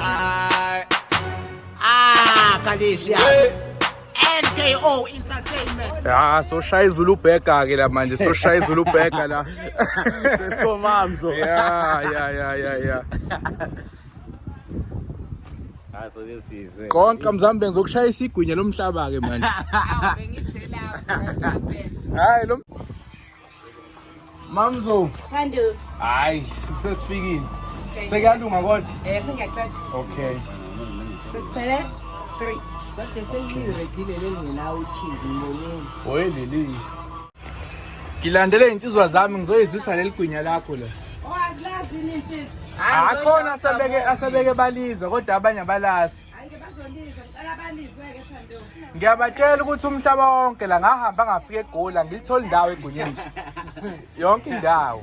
Ah, ah Kalisias. NKO Entertainment. Ah, so shaya izulu bheka ke la manje, so shaya izulu bheka la. Let's go mamzo. Yeah, yeah, yeah, yeah, yeah. Ah, so this is. Konke mzambe benza ukushaya isigwinye lomhlaba ke manje. Hayi lo Mamzo. Thando. Hayi, sisesifikile. Sekuyalunga kodwa? Eh, sengiyaqeda. Okay. Sekusele 3. Kodwa sengiyiredile lengena uchizi ngibonile. Hoye leli. Ngilandele insizwa zami ngizoyizwisa leli gwinya lakho la. Owazi lazi nini sisi? Akhona asebeke asebeke balizwa kodwa abanye abalazi. ngiyabatshela ukuthi umhlaba wonke la ngahamba ngafika egoli angilitholi indawo egunyeni yonke indawo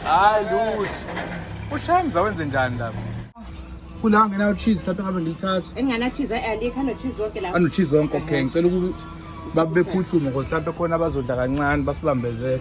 hayi lutho ushaya mza wenze njani lapho kula ngenawo cheese mhlawumbe ngabe ngilithatha engingenachizi alikho anochizi wonke lapho anochizi wonke okay ngicela ukuba bephuthume ngoba mhlawumbe khona abazodla kancane basibambezele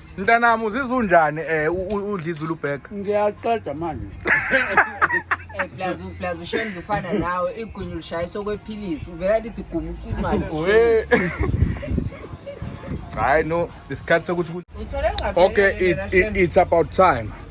Mntanami uzizwa unjani eh u- u- udla izulu bag? ngiyaqeda manje Eh, plus u- plus ushenza ufana nawe igunya ulishayisa okwephilisi uvela lithi guma ucumane We. Hayi no, isikhathi sokuthi ku- uthole Okay, it, it, it's about time.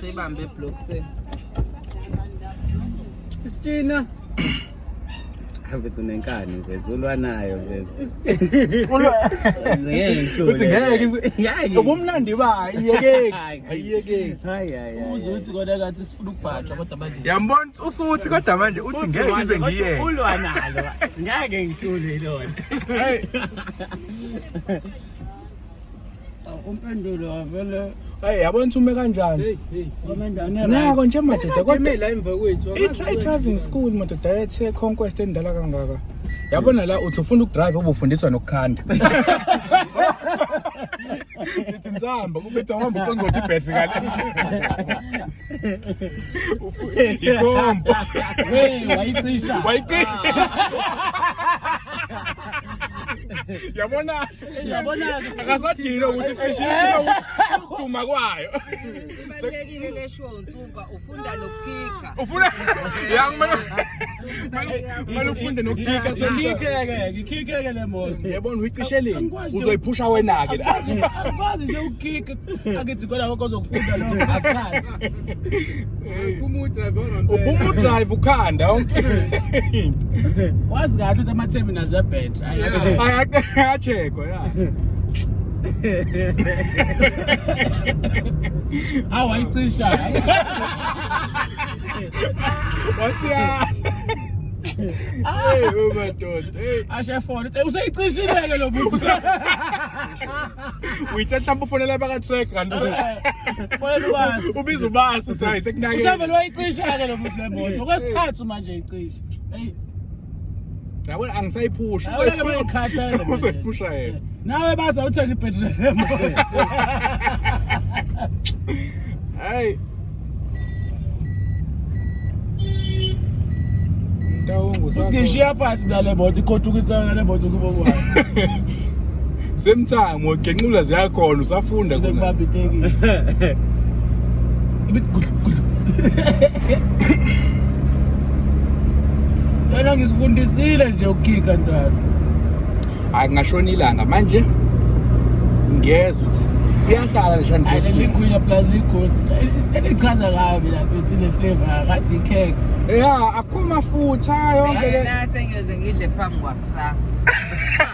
Sibambe block se. Christina. Mfethu nenkani mfethu ulwanayo mfethu. Uthi ngeke ngeke. Ubumnandi ba iyekeki. Iyekeki. Hayi hayi. Uzothi kodwa kathi ukubhajwa kodwa manje yambona usuthi kodwa manje uthi ngeke ngize ngiyeke ulwa nalo ngeke ngihlule lona umpendulo avele Hey yabona ume kanjani? Nako nje madoda kodwa la emva kwethu. I driving school madoda ethe conquest endala kangaka. Yabona la uthi ufuna ukudrive obufundiswa nokukhanda. Ngithi nsamba ubetha uhamba uqongqotha ibhetri kale. Ufu- Ikhombo. Hey, wayicisha. Wayicisha. Yabona Yabona akasadile ukuthi cishe uduma kwayo. Ibalulekile le show nsuku. Ufunda nokukika. Ufuna yang mana? Mana ufunda nokukika sengikike ngikike le moto. Yabona uyicishe le. Uzoyiphusha wena ke. Akwazi nje ukukika. Akithi kodwa okozokufunda lo asikhathi. Ubumu drive on. Ubumu drive ukhanda onke. Wazi kahle ukuthi ama terminals a battery. Ayakachekwa. awu ayicisha wasiya Hey umadoda. Hey ashe phone. Useyicishileke lo buthi. Uyithe mhlawumbe ufonela baka track kanti. Fonela ubasi. Ubiza ubasi uthi hayi sekunake. Usevele wayicisha ke lo buthi le moto. Okwesithathu manje icisha. Hey yabona angisayiphushi Yabona ke manje ukhathele manje. uzoyiphusha yena nawe baza uthenga ibhetri lemoto hayi mtawungu uthi ngishiya phakathi nale moto ikhothukisa nale moto kubo kwayo same time wagenqula ziyakhona usafunda khona Ubaba itekisi. Yena ngikufundisile nje ukukika ndalo. hayi kungashona ilanga manje ngiyezwa ukuthi iyahlala nje Ayile nje likhwila plus lighost. Elichaza kabi lapha ethi le flavor akathi ikhekhe. ya akho mafutha yonke le Ngathi nase ngiyoze ngidle phambi kwakusasa.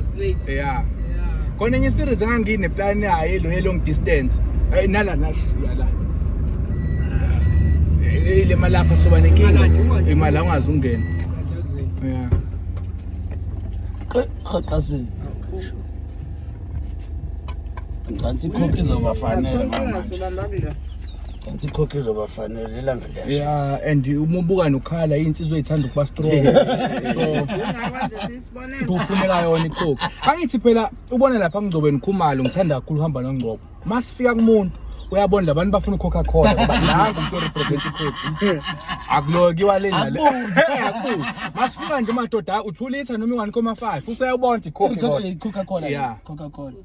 Straight. Yeah. Yeah. Khona enye series engangine plan yayo lo long distance. Ay nala nashiya la. Eh le malapha soba nenkinga. Imali nje, imali nje. Imali angazi ungena. Kadlazini. Yeah. Qhaqhazini. Ngicela ikhokhi izobafanela manje. Ngicela ikhokhi izobafanela ilanga liyashisa. Yeah and uma ubuka nokhala insizwa ithanda ukuba strong. So Ungakwenza sis. kufuneka yona ikhokhi angithi phela ubone lapha ngcobeni khumalo ngithanda kakhulu uhamba nongcobo masifika kumuntu uyabona labantu bafuna ukhokha khona ngoba nangu umuntu orepresent ikhokhi akulokiwa le nale akubuzi masifika nje madoda uthulitha noma ingani koma 5 useyabona ikhokhi ikhokha khona ikhokha khona